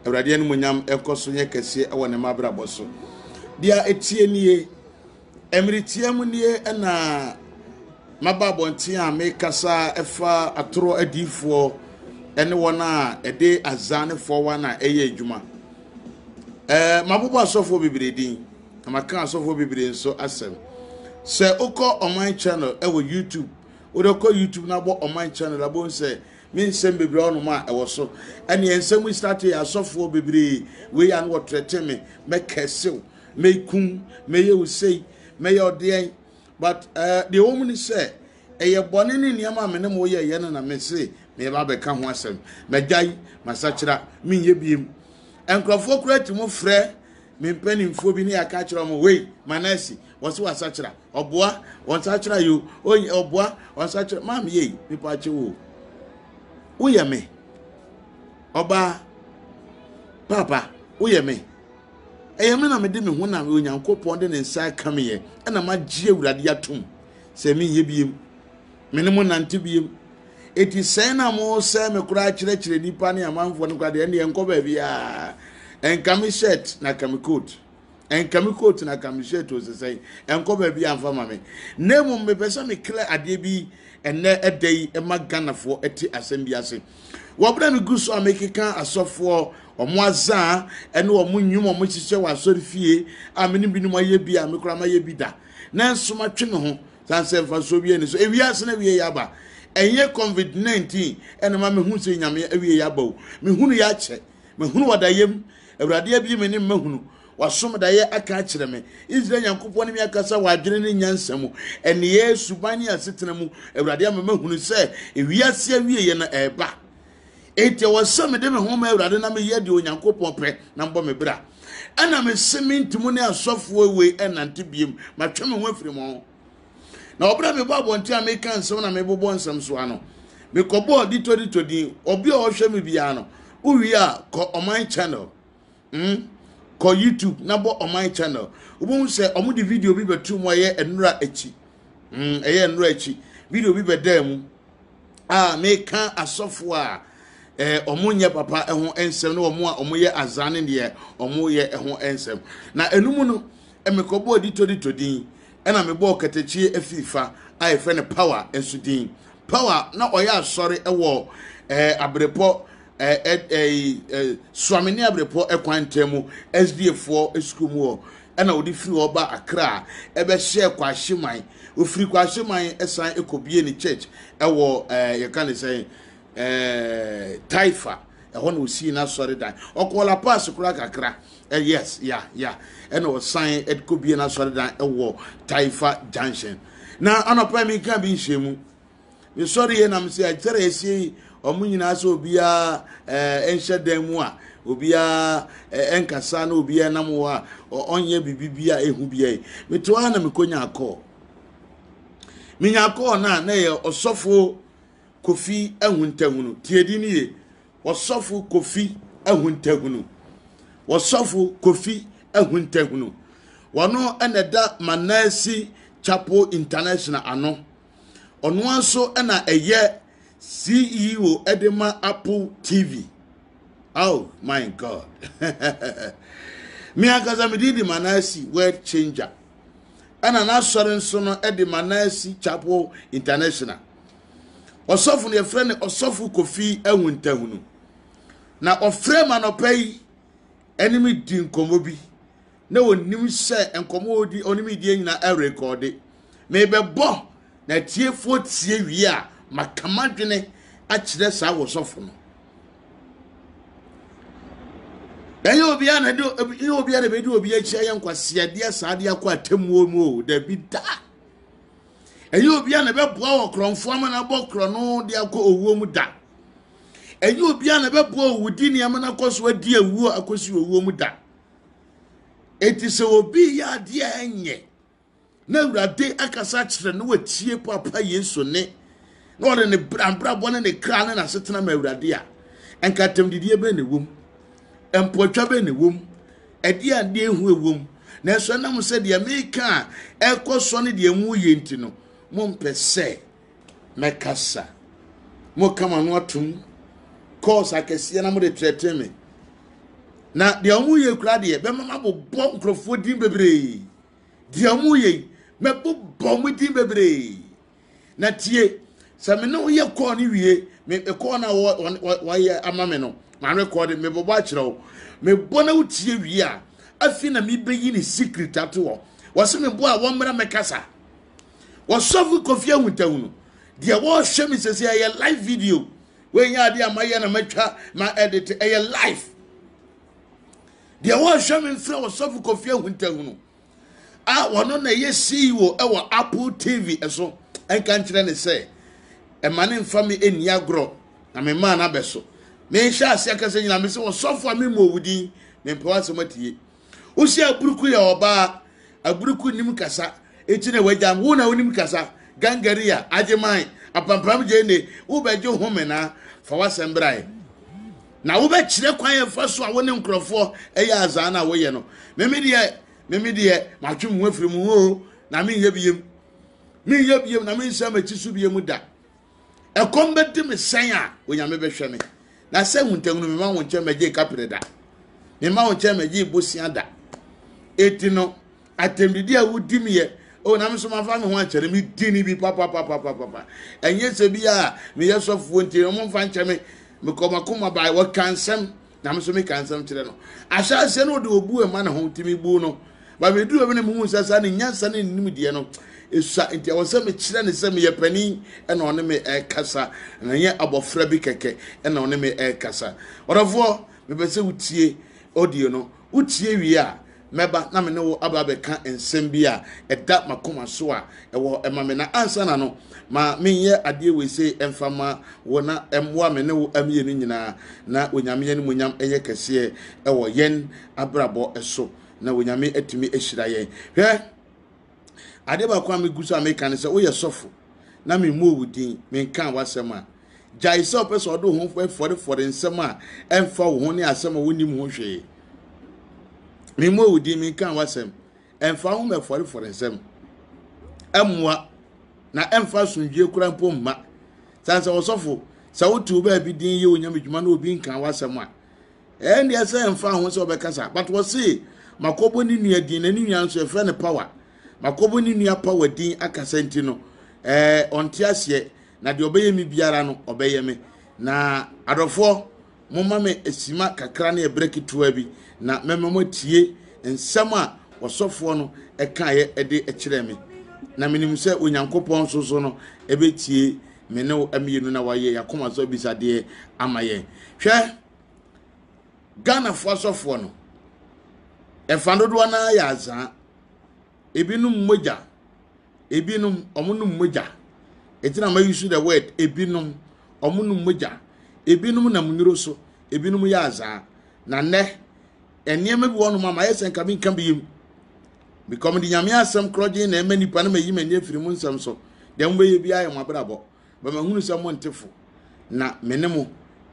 awurade animonyam ɛkɔ so nyɛ kɛseɛ ɛwɔ ne mabrabɔ so deɛ ɛtie nie mmeretia mu nie ɛna maba abɔnten a mekasa ɛfa atorɔ adiifoɔ ɛne wɔn a ɛde azaa ne fɔwa na ɛyɛ adwuma ɛɛ mabobɔ asɔfoɔ bebree din na maka asɔfoɔ bebree nso asɛm sɛ wokɔ ɔman channel ɛwɔ youtube wode kɔ youtube na bɔ ɔman channel abom sɛ me nsɛm bebree ɔnom a ɛwɔ so ɛne nsɛm yi start yɛ asɔfoɔ bebree wei ano wɔtrɛte me mɛkɛsew mɛkum mɛyɛ wo sei mɛyɛ ɔdeɛn but uh, deɛ wɔ mu ne sɛ ɛyɛ bɔne ne nneɛma a me ne mo yɛ yɛ no na me se meba bɛka ho asɛm magyae masakyera menyɛ biem nkurɔfoɔ koraa ti mu frɛ me mpanimfoɔ bi ne yɛaka kyerɛ wɔn wei manasi wɔn so wasakyera ɔboa wɔn sakyera yo oyi ɔboa wɔn sakyera maam yei nipa akye wo woyɛ me ɔbaa papa woyɛ me ɛyɛ me na mede me ho na onyankopɔn de ne nsa aka me yɛ ɛna magye awurade atom sɛ menyɛ biem Me ne mo nnante bio. Enti sɛn na mosɛe me koraa kyerɛkyerɛ nnipa ne amanfoɔ no kwa deɛ ɛndeɛ nkɔ baabiaa. Ɛnka me shirt na ka me coat. Ɛnka me coat na ka me shirt o sesɛn. Ɛnkɔ baabiaa mfa ma me. Na mmom mepɛ sɛ me clear adeɛ bi ɛnɛ ɛda yi ɛma Ghanafoɔ ɛte asɛm bi ase. Wɔbrɛ me gu so a mekeka asɔfoɔ wɔn azaa ɛne wɔn nnwom wɔn hyehyɛ wɔ asɔre fie a me ne binom ayɛ bi a me koraa mayɛ bi da. Nanso matwe me ho Saa nsɛ mfasoɔ bi ani so. Ewiase no awie yɛ aba. Ɛnyɛ covid 19 ɛna ɛma mehu sɛ Nyame awie yɛ aba o. Mehunu yɛ akyɛ. Mahunu wadayɛ mu. Awurade abie me ne mmahunu. Wasom dayɛ aka akyerɛ me. Israel Nyankopɔn ne me akasa wɔ adwene ne nyansa mu. Ɛneyɛɛ, suban ne asetena mu. Awurade ama mahunu sɛ ewiase awie yɛ no ɛɛba. Enti ɛwɔ sɛ mede me ho ma Awurade na meyɛ deɛ Onyankopɔn pɛ na mbɔ me bra. Ɛna mese menti mo ne asɔfoɔ wei ɛnante biem, matwe me ho afiri mo ho. Na ɔberɛ a mebɔ abɔnten a meka nsɛm na mebobɔ nsɛm so ano, mekɔbɔɔ Ditodito din, ɔbea a ɔhwɛ me biara no, wowie a kɔ ɔman channel. Mm kɔ YouTube na bɔ ɔman channel wobɛhu sɛ ɔmo de video bi bɛto mu ɛyɛ nnura akyi mm ɛyɛ nnura akyi video bi bɛdaa mu a meka asɔfo a eh, ɔmo nyɛ papa ɛho nsɛm ne ɔmo a ɔmo yɛ azan ne deɛ ɔmo yɛ ɛho nsɛm na ɛnum no ɛmekɔbɔɔ ditodito din ɛna mebɔɔ katakyie afifa a yɛfrɛ no power nso din power na ɔyɛ asɔre ɛwɔ ɛɛ eh, abrepɔ ɛɛ ɛ ɛɛ ɛ Suamini Abirepɔ kwan ntam mu SDAfoɔ sukuu mu hɔ ɛna wɔde firi hɔ ba Accra a ɛbɛhyɛɛ Kwahyeman. Wɔfiri Kwahyeman san kɔbie ne church ɛwɔ ɛɛ yɛka ne sɛn ɛɛ Taifa ɛhɔ na ɔsii n'asɔredan. Ɔkɔɔ La Paz koraa kakra ɛ yes ya ya ɛna ɔsan kɔbie n'asɔredan ɛwɔ Taifa junction. Na anɔpa yi meka bi nhyɛ mu ne sɔre yɛ nam sɛ ɛkyɛrɛ ɛsie yi wɔn nyinaa sɛ obiara ɛɛ eh, nhyɛ dan mu a obiara ɛɛ eh, nkasa na obiara nam hɔ a ɔnyɛ biribi bi a ehu bi yɛ meto ha na mekonya akɔɔ menya akɔɔ na na yɛ ɔsɔfo kofi ahuntahunu tiedi ni yɛ ɔsɔfo kofi ahuntahunu ɔsɔfo kofi ahuntahunu wɔn ɛna ɛda manasi chapel international ano. ɔno ara nso na ɛyɛ ceo de ma apple tv oh my god me ankasa mede di manasi world changer ɛna n'asɔre nso no de manasi chapel international ɔsɔfo no yɛfrɛ no ɔsɔfo kofi awuntahunu na ɔfrɛ ma nɔpɛ yi ɛne me di nkɔmmɔ bi na ɔnim sɛ nkɔmmɔ ɔdi ɔne me die nyinaa ɛrekɔde mebɛbɔ na atiefoɔ tie wie a maka m'adwene akyerɛ saa wɔsɔfo no ɛnyɛ obiara na de ɛnyɛ obiara na bɛdi obi akyi ayɛ nkwaseadeɛ saa de akɔ atemmuo mu o dabi da ɛnyɛ obiara na bɛboa wɔ korɔmfoɔ ama no abɔ korɔ no de akɔ owuo mu da ɛnyɛ obiara na bɛboa owudi nneɛma no akɔ so adi awuo akɔsi owuo mu da Enti sɛ obi reyɛ adeɛ a ɛnyɛ na awurade akasa akyerɛ no watie papa yesu ne na ɔde ne abrabɔ ne ne kra ne n'asetena ma awurade a ɛnka atɛmdidie bɛn na ɛwom mpɔtwa bɛn na ɛwom ɛdeɛ adeɛ ehu ɛwom nanso ɛnam sɛ deɛ meka a ɛkɔ so ne deɛ mu yɛ nti no mompɛ sɛ mɛkasa. Moka mo ano atom kɔɔs akɛseɛ na mode trɛtrɛ me. Na deɛ wɔyɛ kura deɛ bɛma mabobɔ nkurɔfoɔ din bebree. Deɛ wɔyɛ yi mɛbobɔ mo din bebree. Na tie sɛ me ne woyɛ kɔɔ no wie me kɔɔ no a wɔyɛ ama me no marekɔde mebobɔ akyerɛ wo mebɔ na wotie wie a afei na mebɛyi ne secret ato hɔ wɔse mebɔ a wɔmmra mɛkasa wɔsɔfo kofi ahuntahu no deɛ wɔrehwɛ me sɛsɛ ɛyɛ live video wɔnyɛ adeɛ a mayɛ na matwa ma edit ɛyɛ live deɛ wɔrehwɛ me mfrɛ wɔsɔfo kofi ahuntahu no a wɔno na ɛyɛ ceo ɛwɔ apple tv ɛso ɛnka nkyerɛ ne sɛ ɛma ne mfa me ɛni agorɔ na me maa no abɛso mehyɛ aseɛ akasa nyina me sɛ wɔsɔfo a memmɔ wo din mempɛ w'asɛm atie Wosi aburuku yɛ ɔbaa, aburuku nnim kasa, enti na wagya me. Wo na wonim kasa, Gangaria, Agyeman, Apampram Gyene, wobɛgye home na fa w'asɛm brae. Na wobɛkyerɛ kwan a ɛfa so a wo ne nkurɔfoɔ ɛyɛ azaa no a woyɛ no. Meme deɛ, meme deɛ, matwe me ho afiri mo ho o, na menyɛ biem. Menyɛ biem na mensane m'akyi so biem da. Ɛkɔm bɛdi me sɛn a, Onyame bɛhwɛ me. Na sɛ huntahu no, mema wo nkyɛn mɛgye kapere da. Mema wo nkyɛn mɛgye bosea da. Eti no, atɛmdidi a wodi me yɛ, o na me nso mafa me ho ankyɛ no, medi ne bi papapapapapa. Ɛnyɛ sɛ bi a meyɛ sɔfoɔ nti, wɔn mfa nkyɛ me, mekɔ makoma bae, wɔka nsɛm. na me nso meka nsɛm kyerɛ no ahyɛaseɛ no ɔde ɔbu ɛma ne ho nti mebu no ba meduru ɛmi na mehu sɛ saa ne nyansa ne nimdeɛ no ɛsua nti ɛwɔ sɛ mekyerɛ ne sɛ meyɛ panin ɛna ɔne me ɛkasa na nyɛ abɔfra bi kɛkɛ ɛna ɔne me ɛkasa ɔdɔfoɔ mepɛ sɛ wotie audio no wotie wie a Mɛba na me ne wo aba abɛka nsɛm bi a ɛda m'akoma so a ɛwɔ ma me. Na ansa na no, ma menyɛ adeɛ wei sei ɛmfa mma wo na ɛmmoa me ne wo mmienu nyinaa na Onyame animuonyam nyɛ kɛseɛ wɔ yɛn abrabɔ so na Onyame atumi ahyira yɛn. Hwɛ! Adeɛ baako a megu so a meka ne sɛ woyɛ sɔfo na memmɔɔ wo din, menkaa w'asɛm a, gyae sɛ wopɛ sɛ ɔde wo ho fɔrefɔre nsɛm a ɛmfa wo ho ne asɛm a wonim ho hwee. Memmɔɔ wo din, menkaa w'asɛm. Ɛmfa ho mɛfɔrefɔre nsɛm. Ɛmmoa na ɛmfa asomdwie kora mpo mma. Sane sɛ ɔsɔfo, sɛ wotew baabi din yɛ onyame dwuma na obi nkaa w'asɛm a, Ɛɛ ndeɛ sɛ ɛnfa ho sɛ ɔbɛkasa but wɔse makɔbɔ ne nua din na ne nua nso yɛfrɛ no power makɔbɔ ne nua power din akasa nti no ɛɛ ɔnte aseɛ na deɛ ɔbɛyɛ me biara no ɔbɛyɛ me na adɔfoɔ moma me sima kakra ne ɛberɛ ketewa bi na mɛma mo atie nsɛm a ɔsɔfoɔ no ɛkaeɛ de kyerɛ me na menim sɛ onyankopɔn nso so no ɛbɛtie me ne wo mmienu na wayɛ yɛakoma so abisadeɛ ama yɛn hwɛ Ghanafoɔ asɔfoɔ no, ɛfa dodoɔ no ara yɛ azaa. Ebinom mogya, ebinom wɔnom mogya. Enti na ma use the word ebinom, wɔnom mogya. Ebinom nam nnuro so, ebinom yɛ azaa. Na nnɛ, nneɛma bi wɔ hɔnom a mayɛ sɛ nka menka bi yam. Because mede Nyame asɛm korɔgyen na ɛma nnipa no mayi m'ani afiri mu nsɛm so. Deɛ mobɛyɛ biara yɛ mo abrabɔ. ma mahunu sɛ monte fo, na me ne mo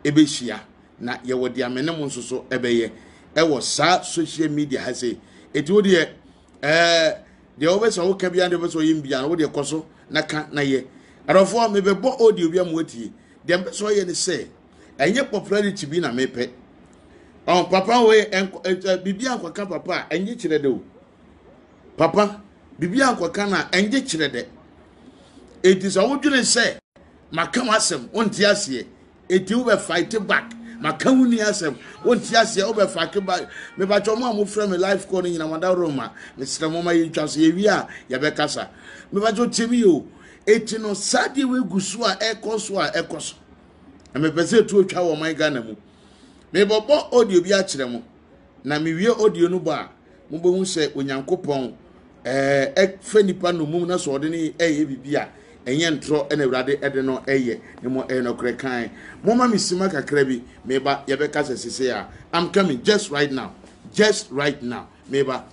bɛhyia, na yɛwɔ deɛ me ne mo nso so bɛyɛ ɛwɔ saa social media ha sei. Ɛti wo deɛ ɛɛ deɛ wobɛ sɛ woka bia deɛ wobɛ sɛ ɔyɛ bia no wo deɛ kɔ so na ka na yɛ. Adɔfoɔ mebɛbɔ audio bi amu atie. Deɛ mpɛ sɛ ɔyɛ ne sɛ ɛnyɛ popularity bi na mepɛ. Ɔn papa wei biribi ankɔka papa a ɛnyɛ kyerɛ de o. Papa, biribi ankɔka no a, ɛngye kyerɛ dɛ. Enti sɛ wodwene sɛ maka w'asɛm, wonte aseɛ, enti wobɛ fight back. Maka wo nua asɛm, wonte aseɛ, wobɛ fight back. Mebakyɛ mo a mofrɛ me life call no nyina madaworo ma, mesrɛ mo ma yɛntwa so, yɛwie a yɛbɛkasa. Mebakyɛ tie me yɛ o. Enti no, saa deɛ wei gu so a ɛkɔ so a ɛkɔ so. Na mepɛ sɛ ɛtuo twa wɔ ɔman Ghana mu. Mebɔbɔ audio bi akyerɛ mo. na mewie audio no bɔ a mobɛhu sɛ onyankopɔn ɛɛ fɛ nipa nomum na sɛ ɔde no ɛyɛ biribi a ɛnyɛ ntorɔ ɛna awurade ɛde no ɛyɛ na mo ɛyɛ nɔkorɛ kan moma me sima kakra bi meba yɛbɛka sɛ sese a i'm coming just right now just right now meba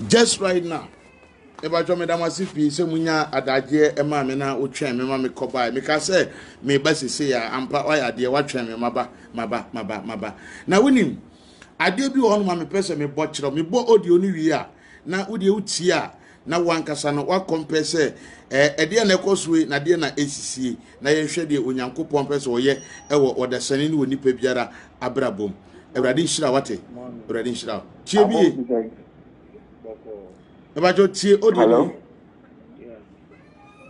just right now ɛbàtɔ mi dam ase pii sɛ mo nya adagyeɛ ɛma mi na otwɛn mi ma mi kɔ baa mi ka sɛ mi ba sese ya ampa ɔyɛ adeɛ watwɛn mi ma ba ma ba ma ba ma ba na wonim adeɛ bi wɔ hɔ no ma mi pɛ sɛ mi bɔ kyerɛw mi bɔ audio no wie a na wodeɛ wotie a na wo ankasa no woakɔmpɛ sɛ ɛɛ ɛdeɛ na ɛkɔ so yi na deɛ na ɛsisie na yɛnhwɛ deɛ Onyankopɔn pɛ sɛ ɔyɛ ɛwɔ ɔdasani ne wɔ nipa biara abrabɔ mu. Awurade nhyira wate. Awurade nhyira wo. Tie bie. Ɛbɛkyɛ tie odi ni.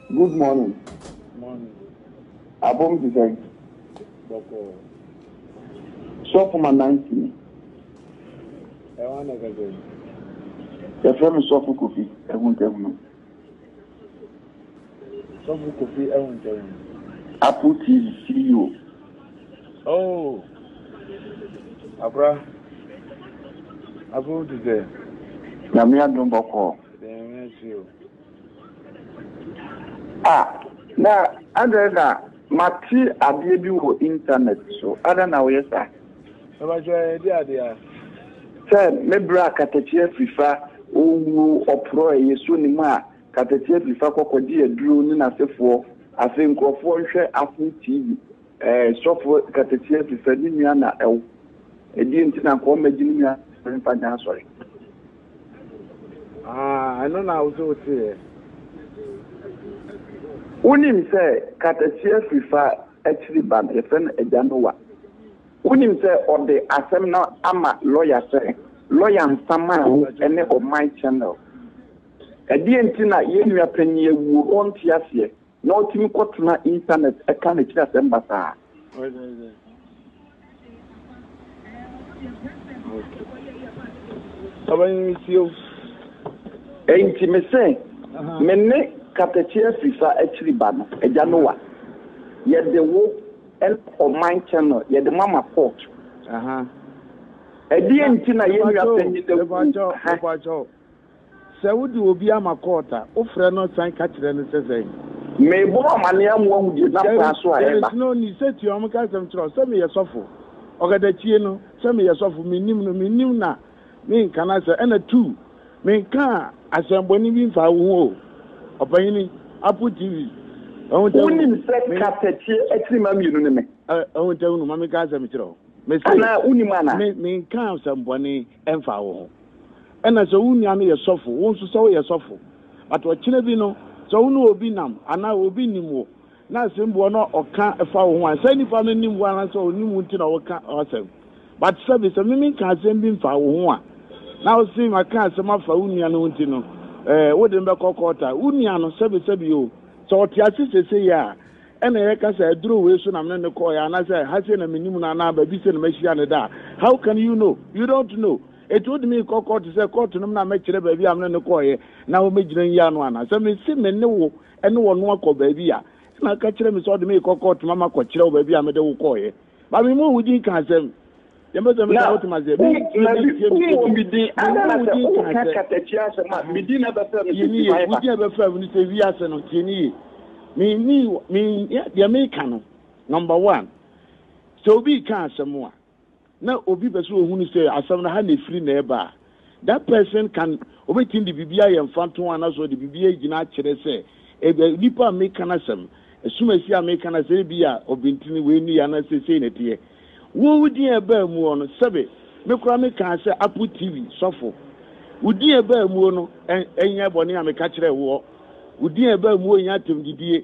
Good morning abom te sɛn bɔkɔɔ sɔfo ma nancy ni ɛwa na kɛsɛ yɛfrɛ me sɔfo kofi ahuntahunu sɔfo kofi ahuntahunu apple tv ceo oh abra abom te sɛ nyame adom bɔkɔɔ dɛn ɛkyerɛ o Ah, na adɛn na mate adeɛ bi wɔ internet so. Adɛn na woyɛ saa? Ɛbɛkyɛ yɛn di adeɛ a. Sɛ me berɛ a katakyi afirifa owuo ɔporɔ a ɛyɛ so ne mu a katakyi afirifa kɔ kɔgye aduro ne n'asefoɔ. Afei nkurɔfoɔ nhwɛ afee TV. Ɛɛ sɔfo katakyiɛ fifɛ ne nua na ɛwo ɛdiɛ nti na nkɔɔ mɛgye ne nua sɔre mfa nyɛ asɔre. Ah ɛno na wosɛ woteɛ. Wonim sɛ katakyiɛ fifa akyiri ba no yɛfrɛ no agya Nowa. Wonim sɛ ɔde asɛm no ama lɔya sɛ lɔya nsa maa wo ɛne ɔman channel. Ɛdiɛ nti na yɛn nua panyin awuo ɔnte aseɛ. na otumi kɔtena Intanɛt ka n'akyiri asɛm basaa. Enti mese, Me ne Katakye Afirifa akyiri ba no, Agya Noa, yɛde wo ne Ɔman Channel yɛde ma ma kɔɔto. Ɛdeɛn nti na yɛn nua panyin awu? Sɛ wode obi ama kɔɔt a, wofrɛ no san ka kyerɛ no sɛ sɛn? Merebɔ ho amanneɛ ama woahu deɛ ɛnam kwan so a ɛreba. There is no need, sɛ tua wɔn ka asɛm kyerɛ wo sɛ meyɛ sɔfo. Ɔkata tie no, sɛ meyɛ sɔfo, mennim no, mennim na menka n'asɛm. Ɛna two, menkaa asɛmmɔne bi mfaa wo ho o, ɔpanyini, Apple TV, ahunta hunu. Wonim sɛ kata tie akyirimma mmienu ne me. Ahunta hunu, ma menka asɛm kyerɛ wo. Mese, Anaa wonim anaa? Me, menkaa asɛmmɔne, ɛmfaa wo ho. Ɛna sɛ wo nua no yɛ sɔfo, wo nso sɛ woyɛ sɔfo, but ɔkyena bi no sɛ wo ne obi nam anaa obi nim wo na asɛmbuɔ no a ɔka fa wo ho a, saa nipa no nim wo anaa sɛ ɔnim wo nti na ɔka w'asɛm. But sɛ me sɛ me menka asɛm bi mfaa wo ho a, na wo se maka asɛm afa wo nua no ho nti no, eh, wode me bɛkɔ court a, wo nua no, sɛbesɛbe o, sɛ ɔte ase sesei a, Ɛna yɛka sɛ aduro wei so na me ne no kɔɔeɛ anaasɛ ha sei na menim no anaa baabi sei na mahyia no da a, how can you know? You don't know. Enti wode me rekɔ kɔɔto sɛ kɔɔto no mu na mɛkyerɛ baabi a me ne no kɔɔeɛ na wɔmɛgyina nyi ano anaa? Sɛ mese me ne wo ne ɔno akɔ baabi a, ɛna ka kyerɛ me sɛ wode me rekɔ kɔɔto ma makɔkyerɛ wo baabi a mede wo kɔɔeɛ. But me mmɔɔ wo din ka asɛm. na wowɔ me din ana na sɛ woka katakyia asɛm a me din na ɛbɛfrɛ no sɛ timae ba wogye ɛbɛfrɛ me no sɛ wiase no tie ne ye menni menyɛ deɛ meka no number one sɛ obi ka asɛm a na obi pɛ sɛ ohunu sɛ asɛm no ha na ɛfiri na ɛba a That person can obetumi de biribi ayɛ mfantoho anaasɛ ɔde biribi agyina akyerɛ sɛ nipa a meka n'asɛm, asumasi a meka n'asɛm ebi a ɔbentini wei ne yɛ anaasɛ sei na ɛteɛ. Wo wo din a ɛbaa mu hɔ no, sɛbe me koraa mekaa sɛ Apple TV sɔfo. Wo din a ɛbaa mu hɔ no, ɛnyɛ bɔne a meka kyerɛɛ woɔ. Wo din a ɛbaa mu hɔ nyɛ atɛmdidie.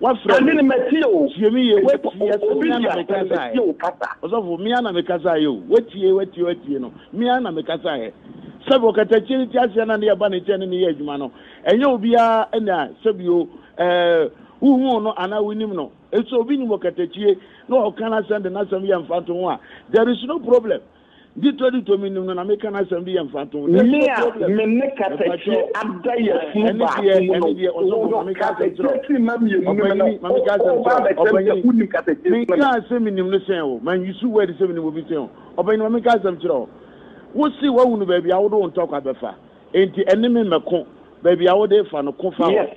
Wafrɛ me, tie me yie, watie, ɛsɛ me ara na mekasaeɛ. Ɔsɔfo, me ara na mekasaeɛ o, watie, watie, watie no, me ara na mekasaeɛ. Sɛbi ɔkatakyie no ti aseɛ na ne yɛba ne nkyɛn ne ne yɛ adwuma no, ɛnyɛ obiara na sɛbi o, ɛɛ, wohuu no anaa wonim no. Nso obi nim ɔkatakyie na ɔka n'asɛm de n'asɛm yɛ mfantoho a, there is no problem. Ditɔditɔ me nim no na meka n'asɛm de yɛ mfatoho. There's Me no a problem. me ne kasakyire Ɛpakyɛw. ada yɛ Ɛɛ, funu ɛne baako deɛ, mu no, ɛne deɛ, ɔsɔfo, wowɔ ma meka asɛm kyerɛ wo. kasakyire sima mmienu no mu no, Ɔpanyin, ma meka asɛm woba kyerɛ wo. abɛkyerɛ me sɛ Ɔpanyin, wonim kasakyire sima mmienu. menkaa sɛ menim no sɛn wo. Manwusu word sɛ menim obi sɛn wo. Ɔpanyin, ma meka asɛm kyerɛ wo. Wose woahunu baabi a wode wo ntɔkwa bɛfa. Enti ɛne me mmɛko. Baabi a wode refa no, ko fa hɔ. Yes.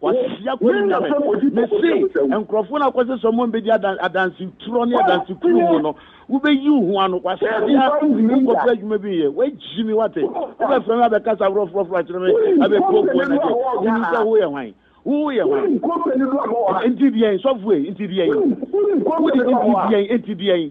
Wahyia kɔn nya me. Mese nkurɔfoɔ no a wokɔsɛ sɛ ɔmo mbɛdi adan adanse turɔ ne adanse kunu mu no, wobɛyi wo ho ano. Wahyia wokɔpɛ adwuma bi nyɛ. Wagyi me wate. Wobɛfrɛ me abɛkasa ahorɔ forɔforɔ akyerɛ me abɛpuapua me deɛ. Wonim sɛ woyɛ hwan? Woyɛ hwan? Nti deɛn sɔfoɔ yi? Nti deɛn? Wode nti deɛn? Nti deɛn?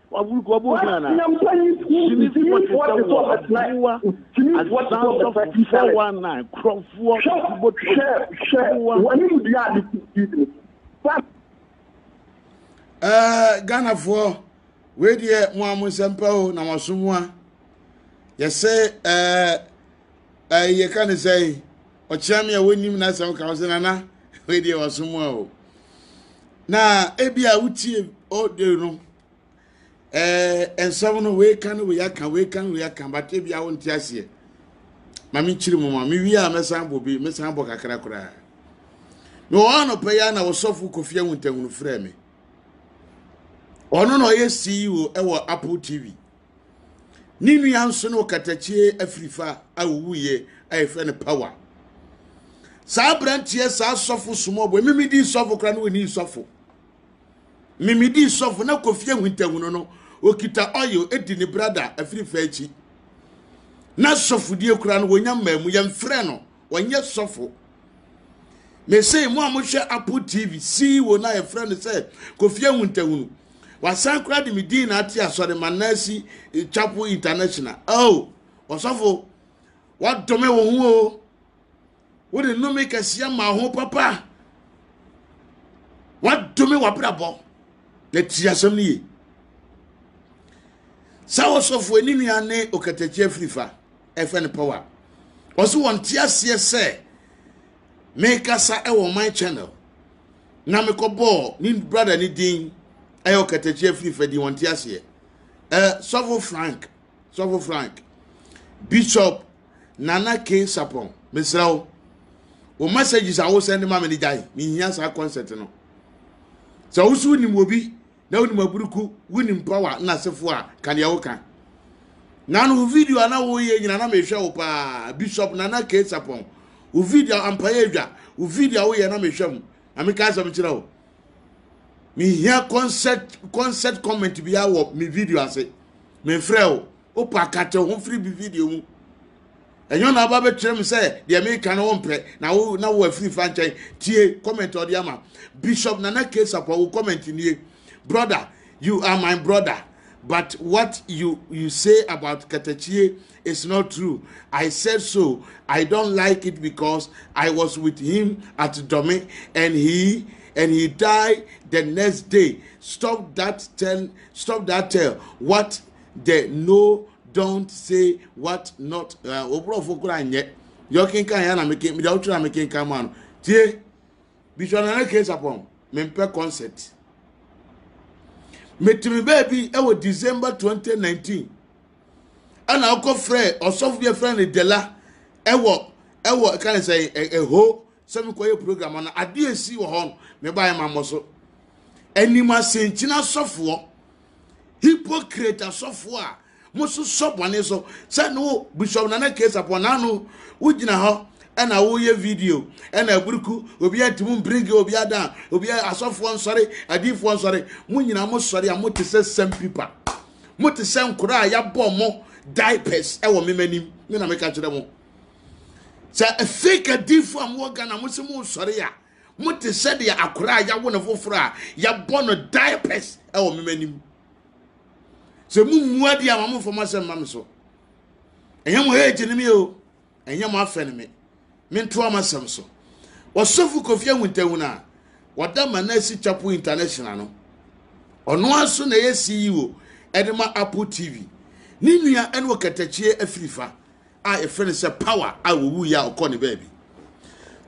Ɛɛ Ghanafoɔ wei deɛ mo a mo nsɛm pa o na mo aso mu a yɛsɛ ɛɛ ɛɛ yɛka ne sɛn. ɔkyena me a wɔnnim n'asɛm ka wo sɛ nana wei deɛ wasom a o na ebi a wotie ɔde no ɛɛ eh, nsɛm no wei ka no wei aka wei ka no wei aka but ebi a wonte aseɛ ma menkyiri mu ma mewie a mɛsan bɔ bi mɛsan bɔ kakra koraa mewɔ hɔ anɔpɛ yi a na wɔsɔfo kofi ahuntahu frɛ me ɔno na ɔyɛ ceo ɛwɔ apple tv Ne nua nso ne ɔkatakyie afirifa a ɔwuiɛ a yɛfrɛ no Power. Saa aberanteɛ saa sɔfo small boy memedii sɔfo koraa na ɔnii sɔfo. Memedii sɔfo na Kofi Ahuntahuno no ɔkita oil di ne brada afirifa akyi. Na sɔfodie koraa no wɔnya mmaa mu yɛmfrɛ no ɔnyɛ sɔfo mese mo a mohwɛ apple tv ceo no a yɛfrɛ no sɛ kofi ahuntahunu wasan koraa de me din na ate asɔre ma nasi eh, chapel international oh ɔsɔfo wadome wo ho o wode nnome kɛseɛ ma ho papa wadome wabrabɔ na tie asɛm no ye sɛ wɔsɔfo ani nua ne ɔkatakyi afirifa ɛfrɛ no power ɔsi wɔn te aseɛ sɛ mekasa ɛwɔ my channel na mekɔ bɔɔ ne brada ne din ɛyɛ ɔkatakyi afiri fɛ di wɔn te aseɛ ɛɛ sɔfo frank sɔfo frank bishop nana k sapɔn mesrɛ wo wo messages a wosɛn de ma me ne gyae mehia saa concept no sɛ woso wonim obi na wonim aburuku wonim power na asefo a ka deɛ woka na no wo video a na woyɛ nyina na mehwɛ wo paa bishop nana kei sapɔn wo video ampaeɛ adwa wo video a woyɛ na mehwɛ mu na meka asɛm kyerɛ wo mehia concert concert comment biara wɔ me video ase mefrɛ wo wopɛ akate ho firi bi video mu Ɛnyɛ ɔna aba bɛkyerɛ me sɛ deɛ meka no wompɛ na wo na wo afiri fa nkyɛn tie comment ɔde ama Bishop Nana K Sapɔ wo comment nie brother you are my brother but what you you say about Katachie is not true I said so I don't like it because I was with him at Dome and he and he died the next day stop that tell stop that tell what the no don't say what not eh, oborɔfo kora nyɛ deɛ ɔkenkan yɛ na meke deɛ ɔtwerɛ a mekenkan ma no tie bisua nana kee sapɔn mempɛ concert metumi baabi ɛwɔ december 2019 ɛna ɔkɔ frɛ ɔsɔfo bi afrɛ no dela ɛwɔ ɛwɔ ɛka ne sɛ ɛho sɛ mekɔyɛ program no adeɛ si wɔ hɔ no mebaeɛ ma mmɔ so anim asenkyina sɔfoɔ hypocrite asɔfo a mososɔ bɔne so sɛ ne wo bishop nana kesa pɔ n'ano wogyina hɔ ɛna woyɛ video ɛna aburuku obi atumi bring obi ada obi asɔfoɔ nsɔre adiifoɔ nsɔre mo nyinaa mo sɔre a mote sɛ sandpipa mote sɛ nkora a yɛabɔ mo diapers ɛwɔ mema nim me na meka kyerɛ mo sɛ fake adiifoɔ a mowɔ ghana mo sɛ mo sɔre a Mote sɛdeɛ akoraa a yawo no foforɔ a yɛbɔ no diapers wɔ mema anim. Sɛ mo mmua deɛ ama momfa mo asɛm ma me so. Ɛnyɛ mo hate ne me o, ɛnyɛ mo afɛ ne me. Mentoa m'asɛm so. Ɔsɔfo Kofi Awuntahun a wɔda ma no asi Chapo International no, ɔno ara so na ɛyɛ CEO ɛde ma Apple TV. Ne nua ɛne ɔkatakyie afirifa. a yɛfrɛ no sɛ power a wɔwu yɛ a ɔkɔ ne baabi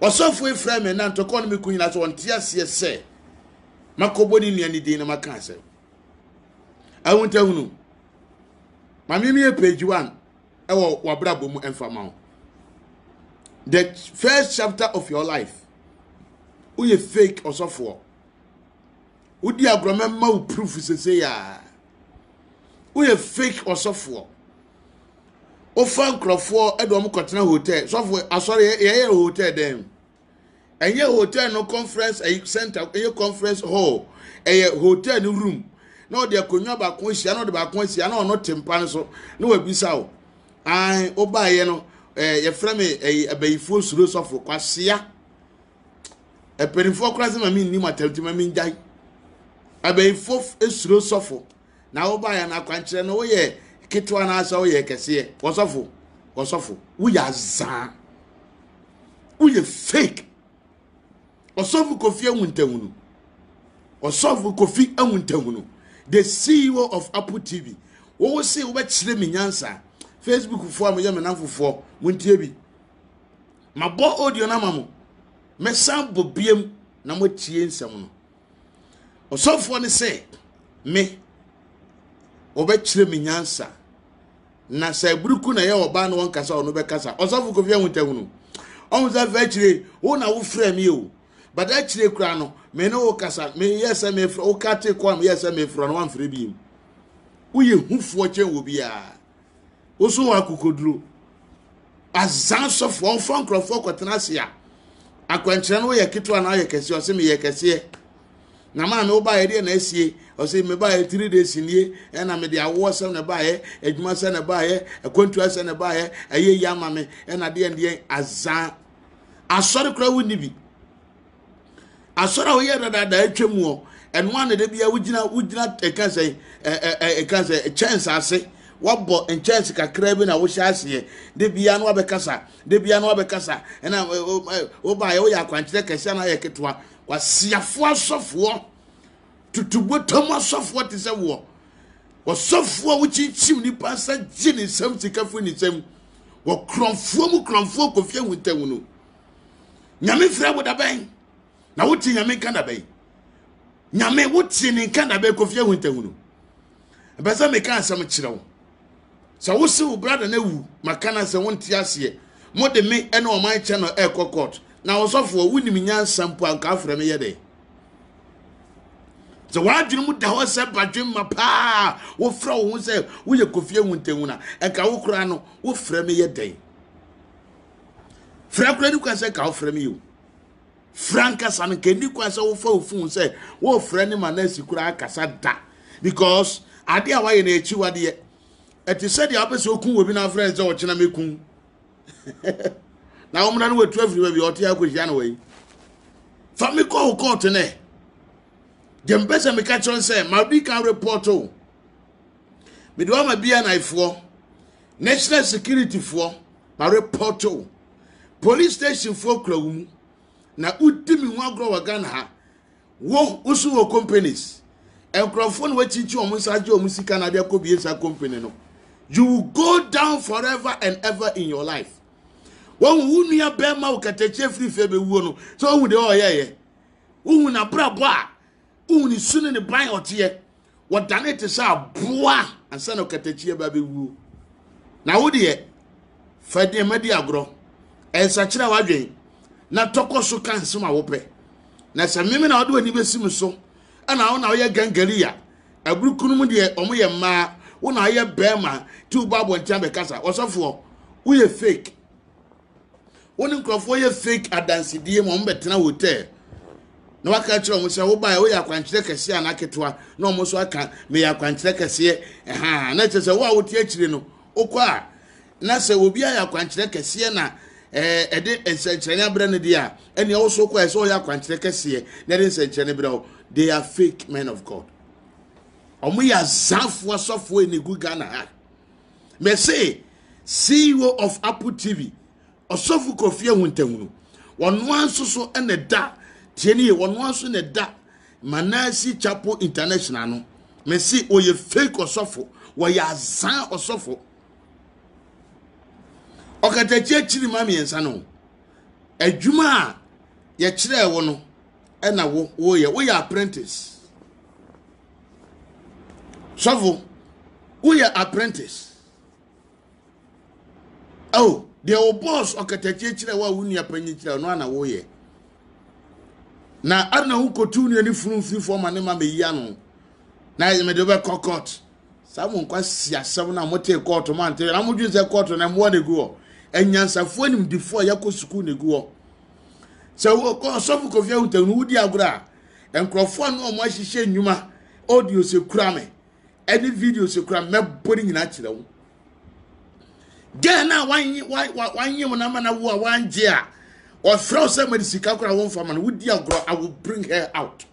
ɔsɔfo efra me na ntɔkɔ no me kun nyina sɛ ɔnte aseɛ sɛ makɔbɔ ne nua ne din na maka asɛm ahontahunu maame mi yɛ page one ɛwɔ wabrabɔ mu ɛmfa ma wo the first chapter of your life woyɛ fake ɔsɔfoɔ wodi agorɔ mɛma wo proof sese yaa woyɛ fake ɔsɔfoɔ wofa nkurɔfoɔ ɛde wɔn kɔtena hotel sɔfo asɔre yɛyɛ hotel dɛn ɛnyɛ hotel no conference center ɛyɛ conference hall ɛyɛ hotel no room na ɔde akonnwa baako ahyia na ɔde baako ahyia na ɔno te mpa no so na wabisa o an wobaeɛ no ɛɛ yɛfrɛ me ɛyi abayifoɔ suro sɔfo kwasia. Mpanimfoɔ koraa sɛ ma me nni mo atam nti ma me ngyae. Abayifo esuro sɔfo na wobaeɛ no akwankyerɛ no woyɛ ketewa na asɛ woyɛ kɛseɛ. Wɔsɔfo wɔsɔfo woyɛ azaa woyɛ fake. Ɔsɔfo Kofi Awuntahunu ɔsɔfo Kofi Awuntahunu the CEO of Apple TV wɔwɔ se wobɛkyerɛ me nyansa Facebook foɔ a moyɛ me namfofoɔ montie bi Mabɔ audio no ama mo. Mɛsan bɔ biam na moatie nsɛm no. Ɔsɔfoɔ no sɛ me wɔbɛkyerɛ me nyansa na sɛ aburuku na ɛyɛ ɔbaa na wɔnkasa ɔno bɛkasa ɔsɔfo kofi ahotahunu ɔmo sɛ afei akyire wo na wofrɛ me o but akyire koraa no me ne wo kasa meyɛ sɛ mefrɛ wo ka te kɔ a meyɛ sɛ mefrɛ no wamfrɛ bi mu woyɛ hufoɔ kyɛn wɔ biara Woso wɔ akokoduro. Azan sɔfo ɔmfa nkurɔfoɔ kɔtena ase a akwankyerɛ no woyɛ ketewa na ayɛ kɛseɛ ɔse meyɛ kɛseɛ na maame wobaeɛ deɛ na asie ɔse mebaeɛ three days nie ɛna mede awoɔ sɛm na ɛbaeɛ adwuma sɛ na ɛbaeɛ akwantua sɛ na ɛbaeɛ ɛyɛ yi ama me ɛna deɛ deɛ azan asɔre koraa wonni bi asɔre a woyɛ dadaada atwa mu hɔ ɛno a na da bia wogyina wogyina ɛka sɛ ɛka sɛ kyɛns ase wabɔ nkyɛns kakra bi na wohyɛ aseɛ da bia no wabɛkasa da bia no wabɛkasa ɛna wobaeɛ woyɛ akwankyerɛ kɛseɛ na ayɛ ketewa wasiafoɔ asɔfoɔ tutubotam asɔfoɔ te sɛ woɔ wɔsɔfoɔ a wokyinkyim nipa nsa gye ne nsam sika firi ne nsam wɔkorɔmfoɔ mu korɔmfoɔ kɔfie ahuntahu no nyame frɛ wo dabɛn na wotie nyame nka dabɛn nyame wotie ne nka dabɛn kofie ho ntahunu ɛbɛ sɛ meka asɛm kyerɛ wo sɛ wo se wo brada no awu maka no sɛ wonte aseɛ mode me ɛne ɔman kyɛ no ɛkɔ court na ɔsɔfoɔ wonim nyansa mpo anka afrɛ me yɛ dɛ sɛ w'adwene mu da hɔ sɛ badwemma paa wofrɛ wo ho sɛ woyɛ kofie ho ntahunu a ɛka wo koraa no wofrɛ me yɛ dɛn Fira kura ni kwan sɛ nka wofrɛ me o. Fira nkasa no nka ni kwan sɛ wofa wo fon sɛ wofrɛ ne ma na asi kura akasa da because ade a wayɛ no akyiwadeɛ ɛte sɛ deɛ wopɛ sɛ oku wɔ bi na afrɛ sɛ ɔkyena mɛku na wɔmra no watu afiri baabi ɔte akɔhyia no wɔ fa me kɔ wo kɔɔto nɛ deɛ mpɛ sɛ meka kyerɛ sɛ madi kan report o Mede wo ama BNI foɔ, national security foɔ, ma repɔto wo. Police station foɔ kura wo mu. Na wodi me ho agorɔ wɔ Ghana ha. Wo woso wɔ companies. Nkurɔfoɔ na wakyinkyin wɔn nsa agye wɔn sika na ade akɔ bie saa company no. You will go down forever and ever in your life. Wɔn wo nua bɛrima wo katakyie firi fɛ bɛwuo no. So wɔn deɛ ɔyɛyɛ. Wohu n'abrabɔ a wohu ne su ne ne ban a ɔteɛ wɔdane te sɛ aboa ansa na ɔkatakyiɛ ba bɛwuo na wo deɛ fa nneɛma di agorɔ ɛnsakyerɛ w'adwen na tɔkɔ so ka nsɛm a wopɛ na sɛ meme na wode w'ani bɛsi me so ɛna wo na woyɛ gangaria aburukunu mu deɛ ɔmo yɛ mmaa wo na woyɛ bɛrima ti wo bɔ abɔnten abɛkasa ɔsɔfoɔ woyɛ fake wo ne nkurɔfoɔ yɛ fake adansedie ma wɔbɛtena hotel na waka kyerɛ wɔn sɛ wobaeɛ woyɛ akwankyerɛ kɛseɛ anaa ketewa na wɔn nso aka meyɛ akwankyerɛ kɛseɛ ɛha na kyerɛ sɛ wo a wote akyire no wokɔ a na sɛ obi ayɛ akwankyerɛ kɛseɛ na ɛɛ ɛde nsɛnkyerɛnne abrɛ no deɛ a ɛnea woso kɔ ɛsɛ ɔyɛ akwankyerɛ kɛseɛ na ɛde nsɛnkyerɛnne brɛ wo they are fake men of god wɔn yɛ azafoɔ asɔfoɔ ɛnegu ghana ha mese ceo of apple tv ɔsɔfo kofi ahuntahunu wɔn nso so na ɛda tie ne yɛ wɔn nso na ɛda manasi chapel international no mese wɔyɛ fake ɔsɔfo wɔyɛ azan ɔsɔfo ɔkatakyi akyiri ma mmiɛnsa no adwuma a yɛkyerɛɛ wo no ɛna wo woyɛ woyɛ apprentice sɔfo woyɛ apprentice oh deɛ wo boss ɔkatakyie kyerɛ wo a wo nua panyin kyerɛ ɔno ana woyɛ na ana wokɔtu nua ne funu mfiri fam ma ne ma meyi ano na yɛ mede wobɛkɔ court saa mo nkwa si asɛm no a motee kɔɔto ma nte na modwene sɛ kɔɔto na mmoa na ɛgu hɔ anyansafoɔ animdifoɔ a yɛakɔ sukuu na ɛgu hɔ sɛ ɔsɔfo kɔfia wotam no wodi agorɔ a nkurɔfoɔ a na wɔn ahyehyɛ nnwuma audios ekura me ɛne videos ekura me mɛbɔ ne nyinaa kyerɛ wo gɛn na wanye wanye wɔn ama na wo a wangye a ɔfrɛ wo sɛ ma de sika kora wɔn fama no wodi agorɔ i will bring her out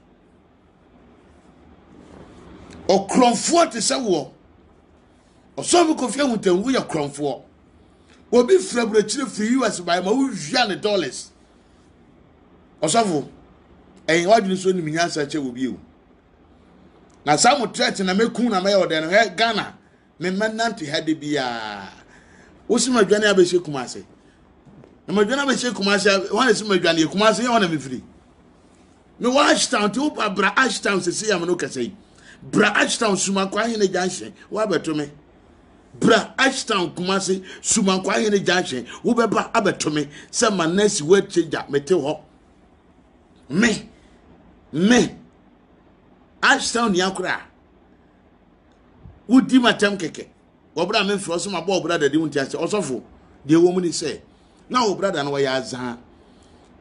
ɔkorɔnfoɔ te sɛ woɔ Ɔsɔfo Kofi Ahutangu yɛ korɔmfoɔ. Obi firi aburokyire firi US baeɛ ma wowia ne dollars. Ɔsɔfo, ɛyɛ wadwene so nim nyansa kyɛ wɔ bio. Na saa mo threat na mɛku na mɛyɛ ɔdɛn no hɛ Ghana memmɛ nante ha de biara. Wosi madwane abɛhyɛ kuma ase. Na madwane abɛhyɛ kuma ase wɔn na si madwane kuma ase yɛ wɔn na mefiri. Me wɔ Ashtown ti wopa bra Ashtown sisi yam no kɛse yi. Bra Ashtown Sumakwa Hene Junction wabɛto me. Bra Ashtown Kumasi Sumakwa Hene Junction wobɛba abɛto me sɛ ma nurse word changer mete hɔ. Me me Ashtown ni akora. Wodi matam kɛkɛ. Wɔbra me mfrɛ so ma bɔ ɔbrada de wonti ase ɔsɔfo deɛ wɔ mu ni sɛ na ɔbrada no wɔyɛ azaa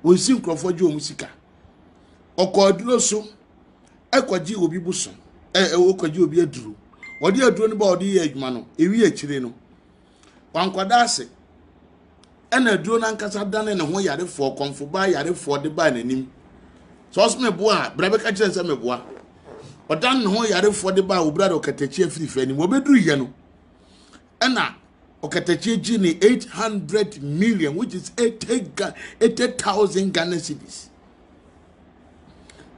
wɔnsi nkurɔfoɔ gye wɔn sika ɔkɔ aduro so ɛkɔgye obi boso ɛɛ ɔkɔgye obi aduro wɔde aduro no ba ɔde yɛ adwuma no ewi akyire no wankɔda ase ɛna aduro no ankasa dane ne ho yarefoɔ kɔmfo baa yarefoɔ de baa n'anim sɛ ɔsɛ meboa a bra bɛka kyerɛ sɛ meboa ɔdan ne ho yarefoɔ de baa obira de ɔkatakyi afirifi anim wɔbɛduru yɛ no ɛna ɔkatakyi gye ne eight hundred million which is eighty ga eighty thousand ghana cedis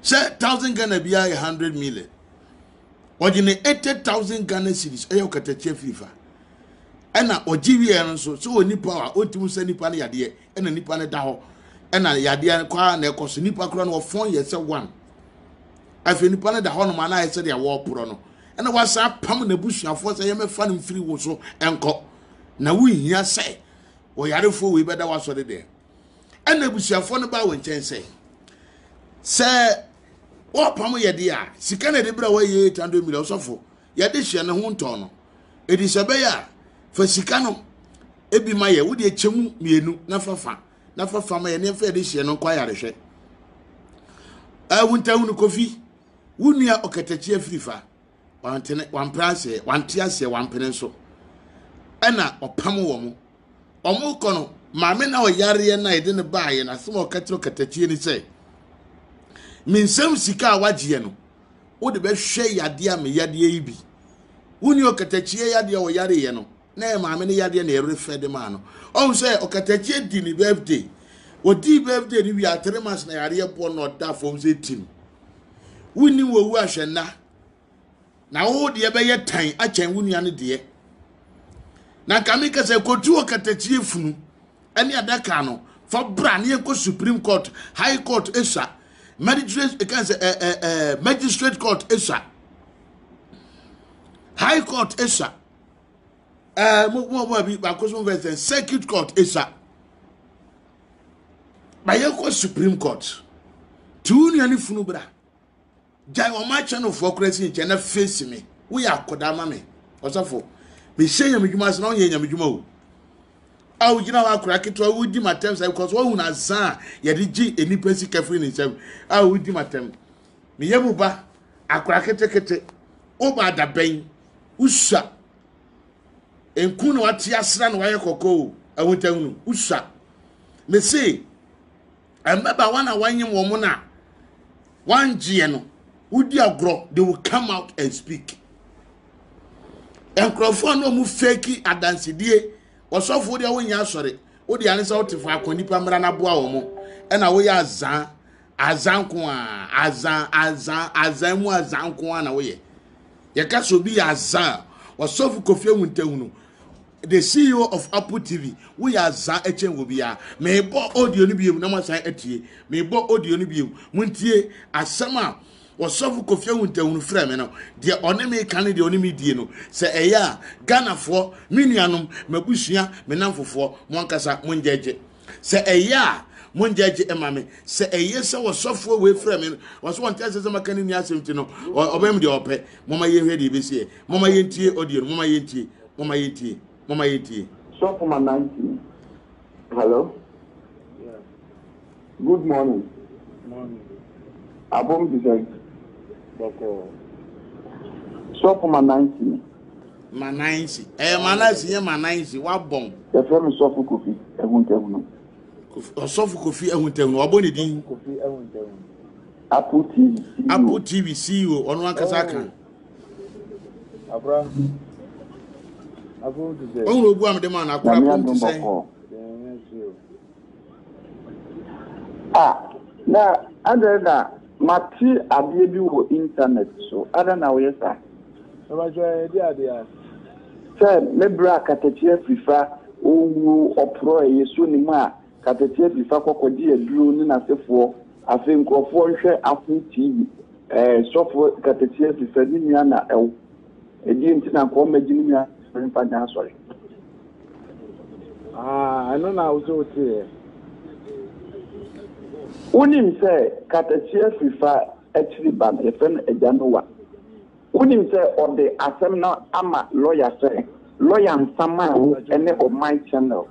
sɛ thousand ghana biara yɛ hundred million ɔgye ne eighty thousand ghana cedis ɛyɛ ɔkatakyi afirifa. ɛna ɔgye wieɛ no nso sɛ ɔni power a ɔntumi nsa nipa no yadeɛ ɛna nipa no da hɔ ɛna yadeɛ no kwaa na ɛkɔ so nipa kora no ɔfɔn yɛ sɛ one afei nipa no da hɔ nom anaa ɛsɛ deɛ wɔreporɔ no ɛna wasan apam n'abusuafoɔ sɛ yɛmɛfa no mfiri wo so ɛnkɔ na wohia sɛ ɔyarefoɔ wei bɛda wasɔre deɛ ɛna abusuafoɔ no baa wo nkyɛn sɛ sɛ wɔpam yɛde a sika na ɛde berɛ a wɔyɛ 800 million sɔfo yɛde hyɛ ne ho ntɔn no edi sɛ ɛbɛyɛ a fa sika no ebi ma yɛ wode kyɛ mu mmienu na fa fa na fa fa ma yɛ nneɛma yɛde hyɛ no nkɔ ayarehwɛ ahuntahunu kofi wo nua ɔkatakyi afiri fa wantene wampere aseɛ wante aseɛ wampene nso ɛna ɔpam wɔn mo wɔn kɔ no maame na ɔyareɛ na yɛde no baayɛ na asɛm a ɔka kyerɛ ɔkatakyie ni sɛ mensɛm sika a wagyeɛ no wode bɛhwɛ yadeɛ a me yadeɛ yi bi woni ɔkatakyie yadeɛ a ɔyareeɛ no na yɛ maame no yadeɛ na ɛrefɛ de maa no ɔhu sɛ ɔkatakyie di ne birthday wɔdii birthday no wie atere mas na yareɛ boɔ na ɔda fam sɛ tim wonni wɔwu ahwɛ nna na wo deɛ bɛyɛ tan akyɛn wo nua no deɛ na nka meka sɛ kɔtu ɔkatakyie funu ɛne adaka no fa bra ne yɛkɔ supreme court high court ɛsua magistrate ɛka sɛ ɛ ɛ ɛ magistrate court ɛsua high court ɛsua ɛɛ mo mo mo bi baako so mo fɛ sɛ circuit court ɛsua bayɛkɔ supreme court tiwu nua ne funu bra. gyae wɔn akyɛ no foɔ koraa si nkyɛn na face me woyɛ akɔdaa ma me ɔsɔfo mehyɛ nyame dwuma ase na wonyɛ nyame dwuma o a wogyina hɔ akora ketewa wodi matɛm sɛ because woahu no asa a yɛde gye nnipa sika firi ne nsam a wodi matɛm meyɛ mu ba akora ketekete woba adabɛn wosua nku na wate asra na wayɛ kɔkɔɔ ahotahunu wosua mese Mbabaawa na wɔanyem wɔn no a wɔangyeɛ no, wodi agorɔ, they will come out and speak. Nkurɔfoɔ na wɔn fake adansedie, ɔsɔfoɔ deɛ wonyɛ asɔre, wode ane sɛ wote faako nipa mmara no aboa wɔn, ɛna woyɛ azan, azan ko a, azan, azan, azan mu azan ko a na woyɛ. Yɛka sɛ obi yɛ azan, ɔsɔfo Kofi Awuntahunu, The CEO of Apple TV, woyɛ aza ɛkyɛn wɔ biara. Meebɔ audio no biom na moasan atie. Meebɔ audio no biom. Montie asɛm a ɔsɔfo Kofi Awuntahunu frɛ me no. Deɛ ɔne me ka ne deɛ ɔne me die no. Sɛ ɛyɛ a, Ghanafoɔ, me nuanom, m'abusua, me namfofoɔ, mo ankasa mongyɛgye. sɛ ɛyɛ a mongyɛgye ɛma me sɛ ɛyɛ sɛ wɔsɔfoɔ wei frɛ me no wɔsɛ wɔnte asɛ sɛ maka ne ni asɛm ti no ɔbɛm deɛ ɔpɛ moma yɛnhwɛ deɛ ɛbɛsiɛ moma yɛntie ɔdeɛ no moma yɛntie moma yɛntie moma yɛntie sɔfo ma nanti hello good morning abom te sɛ sɔfo ma nanti Mananzi. Ɛyɛ Mananzi nyɛ Mananzi wabɔn. Yɛfrɛ no Sɔfo Kofi Ahuntahunu. Ɔsɔfo Kofi Ahuntahunu wabɔ ne din. Kofi Ahuntahunu. Apple TV CEO. Apple TV CEO ɔno ankasa ka. Oh. Abra. Abro ti sɛ. Ɔhun ogu a mede ma no akora pom ti sɛ. Ah, na adɛn na mate adeɛ bi wɔ internet so, adɛn na woyɛ saa? Mpakyɛ yɛdi adeɛ a. Sɛ me bra katakyi afirifa ɔwuo ɔporɔ ɛyɛ so ne mu a katakyi afirifa kɔ kɔgye aduro ne nasefoɔ afei nkorɔfoɔ nhwɛ afo TV ɛɛ sɔfo katakyi afirifa ne nua na ɛw. Ɛdeɛn nti na nka ɔmma gyimi nwa sɔre mfa nnya asɔre. Ah ɛno na wosɛ woteeɛ. Wonim sɛ katakyia firi fa akyiri ba no yɛfrɛ no agya Nowa. Wonim sɛ ɔde asɛm no ama lɔya sɛ lɔya nsa maa wo ne ɔman channel.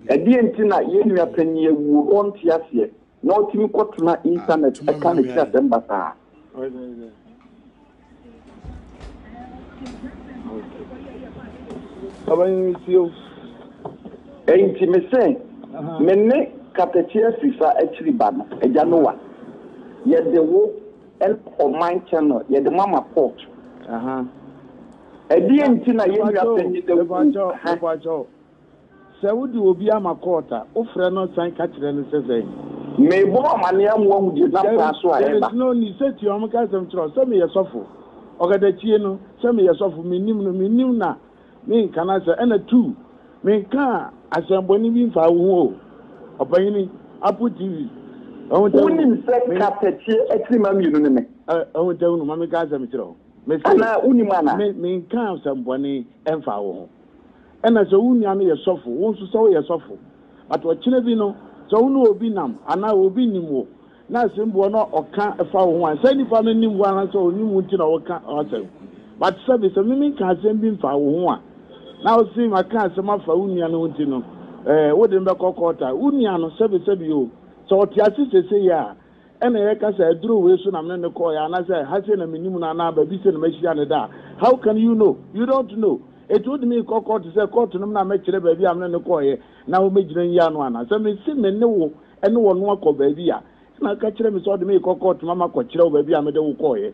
Ɛdeɛn nti na yɛn nua panin awuo ɔnte aseɛ. na otumi kɔtena Intanɛt ka ne ti asɛm basaa. Enti mise, Me ne Katakyi Afirifa akyiri ba no, Agya Noah, yɛde wo ne ɔman channel yɛde ma ma court. Ɛdeɛn nti na yɛn nua panyin Dawuo? Sɛ wode obi ama kɔɔt a, wofrɛ no san ka kyerɛ no sɛ sɛn? Merebɔ wo amanneɛ ama woahu deɛ ɛnam kwan so a ɛreba. There is no need, sɛ tiaa wɔn ka asɛm kyerɛ wo sɛ meyɛ sɔfo, ɔkatakyie no, sɛ meyɛ sɔfo, mennim no, mennim no a, menka no asɛm, ɛna two, menkaa asɛmbɔne bi mfaa wo ho o, ɔpanyini, Apple TV, Ahuntahu, Wonim sɛ me. Katakyie akyirimma mmienu ne me. Ahuntahu no, ma menka asɛm nkyerɛ wo, mese. Anaa wonim anaa? Me, menkaa asɛmbɔne mfaa wo ho. Ɛna sɛ wo nua no yɛ sɔfo, wo nso sɛ woyɛ sɔfo. But ɔkyena bi no, sɛ wo ne obi nam anaa obi nim wo na asɛmbuo no a ɔka fa wo ho a, saa nipa no nim wo anaasɛ ɔnim wo nti na ɔka w'asɛm. But sɛbe sɛ me menka asɛm bi mfaa wo ho a, na ɔse maka asɛm afa wo nua no ho nti no, eh, wode no bɛkɔ court a, wo nua no, sɛbe sɛbe o, sɛ ɔte ase sesei a, Ɛna yɛka sɛ aduro wei so na mene no kɔɔɛ anasɛ ha sei na menim no anaa baabi sei na mahyia no da a, how can you know? You don't know. Enti wode me rekɔ kɔɔto sɛ kɔɔto no mu na mɛkyerɛ baabi a mene no kɔɔɛ na wɔmɛgyina nyi ano anaa? Sɛ mese me ne wo ne ɔno akɔ baabi a, ɛna woka kyerɛ me sɛ wode me rekɔ kɔɔto ma makɔkyerɛ wo baabi a mede wo kɔɔɛ.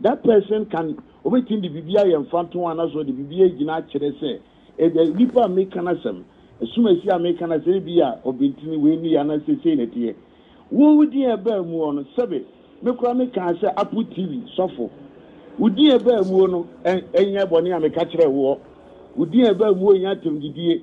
That person can obetumi de biribi ayɛ mfatoho anaasɛ ɔde biribi agyina akyerɛ sɛ ebia nipa a meka n'asɛm, asumasie a meka n'asɛm ebia ɔbentini wei ne yɛ anaasɛ sei na ɛteɛ. Wo din a ɛbaa muo no, sɛbe me koraa mekaa sɛ Apple TV sɔfo. Wo din a ɛbaa muo no, ɛ, ɛnyɛ bɔne a meka kyerɛɛ woɔ. Wo din a ɛbaa muo nyɛ atɛmdidie.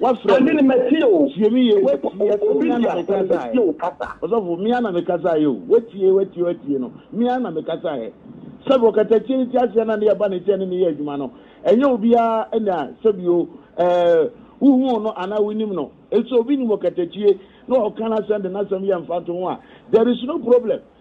Wafrɛ me. Tie me yie. Watie. Sɛ me ara na mekasaeɛ. Ɔsɔfo, me ara na mekasaeɛ o. Watie, watie, watie no. Me ara na mekasaeɛ. Sɛbi ɔkatakyie no te aseɛ na ne yɛ ba ne nkyɛn ne ne yɛ adwuma no, ɛnyɛ obiara na sɛbi o, ɛɛ, wohuu no anaa wonim no. Nso obi nim ɔkatakyie na ɔka n'asɛm de n'asɛm yɛ mfatoho a, there is no problem.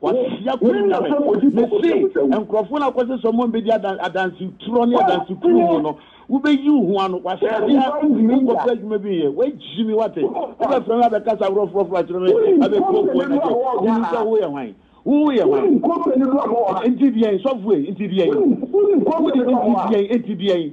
Wahyia Kwenyame. Mese, nkurɔfoɔ no a wokɔse sɛ wɔn bɛdi adan, adanseturɔ ne adansekuo mu no, wobɛyi wo ho ano. Wahyia wonkɔpɛ adwuma bi nyɛ. Wagyi me, woate. Wobɛfrɛ me abɛkasa aworɔforɔforɔ akyerɛ me, abɛpuapua me de. Wonim sɛ woyɛ hwan? Wo yɛ hwan? Nti deɛn, sɔfoɔ yi? Nti deɛn? Wode nti deɛn? Nti deɛn?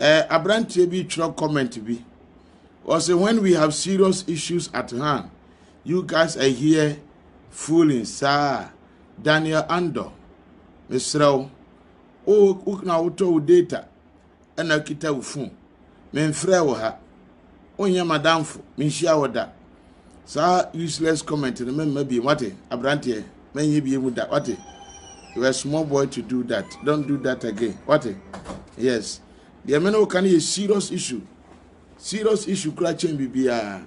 Eh, abranteɛ bi twerɛ comment bi. Ɔsɛ when we have serious issues at hand, you guys are here fooling saa. Daniel Andor, mesrɛ wo, wo na wotɔ wo data ɛna kita wo phone. Memfrɛ wo ha. wonyɛ m'adamfo, menhyia wo da. Saa useless comment no mɛmma biem, wate? Aberanteɛ, mɛnyɛ biem da, wate? You are a small boy to do that. Don't do that again, wate? Yes. Deɛ me ne wo ka no yɛ serious issue. Serious issue kura kyɛn biribiara.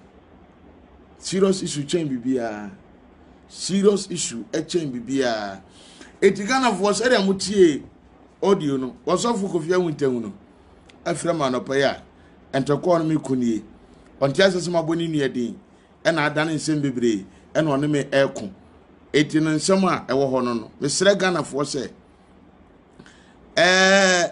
Serious issue kyɛn biribiara. Serious issue kyɛn biribiara. Eti Ghanafoɔ sɛdeɛ mo tie audio no, wɔsɔfo Kofi Awintanwu no, afira ma anɔpa yi a, Ntɔkwaw no me ku nie. Ɔnte ase sɛ mabɔ ne nua din, ɛna adane nsɛm bebree ɛna ɔne me ɛko. Eti no nsɛm a ɛwɔ hɔ no no, mesrɛ Ghanafoɔ sɛ ɛɛ.